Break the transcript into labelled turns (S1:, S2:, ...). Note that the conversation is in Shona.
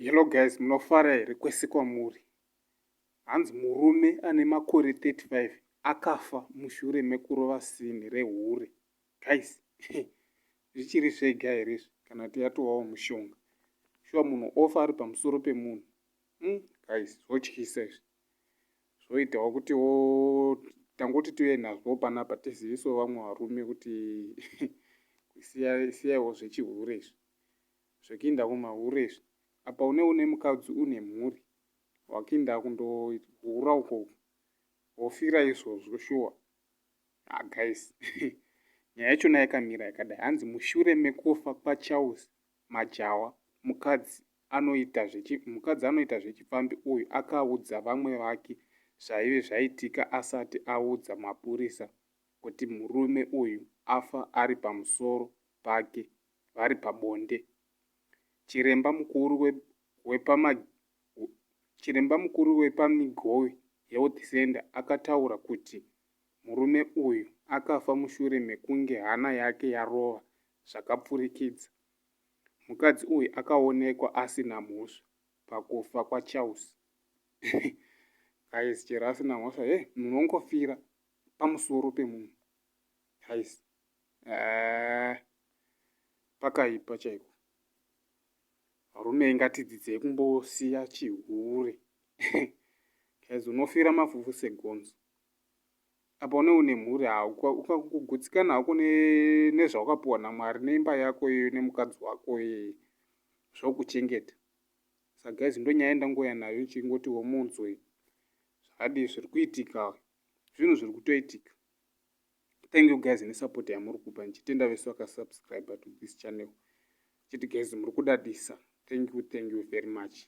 S1: hello guys munofara here kwese kwamuri hanzi murume ane makore 35 akafa mushure mekurova sini rehure guys zvichiri zvega here izvi kana kuti yatovawo mushonga shuwa munhu ofa ari pamusoro pemunhu Hmm, guys zvotyisa izvi zvoitawo kuti wo tangoti tiuye nazvo panapa tiziviso vamwe varume kuti siyaiwo zvechihure izvi zvekuinda kumahure izvi apa une une mukadzi une mhuri wakuinda kundohura uko wofira izvozvo shuwa ah, guys nyaya yachona yakamira yakadai hanzi mushure mekufa kwacharles Majawa, mukadzi anoita zvechi, mukadzi anoita zvechipfambi uyu akaudza vamwe vake zvaive zvaitika asati audza mapurisa kuti murume uyu afa ari pamusoro pake vari pabonde. Chiremba mukuru we, wepama, chiremba mukuru wepaMigowi Health Centre akataura kuti murume uyu akafa mushure mekunge hana yake yarova zvakapfurikidza. Mukadzi uyu akaonekwa asina mhosva pakufa kwaCharles. Guys, chero asina mhosva, hey, munhu ongofira pamusoro pemunhu. Guys, eh, pakaipa chaiko. Varume ingatidzidzei kumbosiya chihure. Guys, unofira mafufu segonzo. apa une une mhuri ukagutsikana hako nezvawakapiwa namwari neimba yako iyoyo nemukadzi wako iyeye zvokuchengeta sa guys ndonyaya ndangouya nayo ichingoti womunzwei zvakadii zviri kuitika zvinhu zviri kutoitika thank you guys nesupport yamuri kupa ndichitenda vese vakasubscribe to this channel chiti guys muri kudadisa thank you thank you very much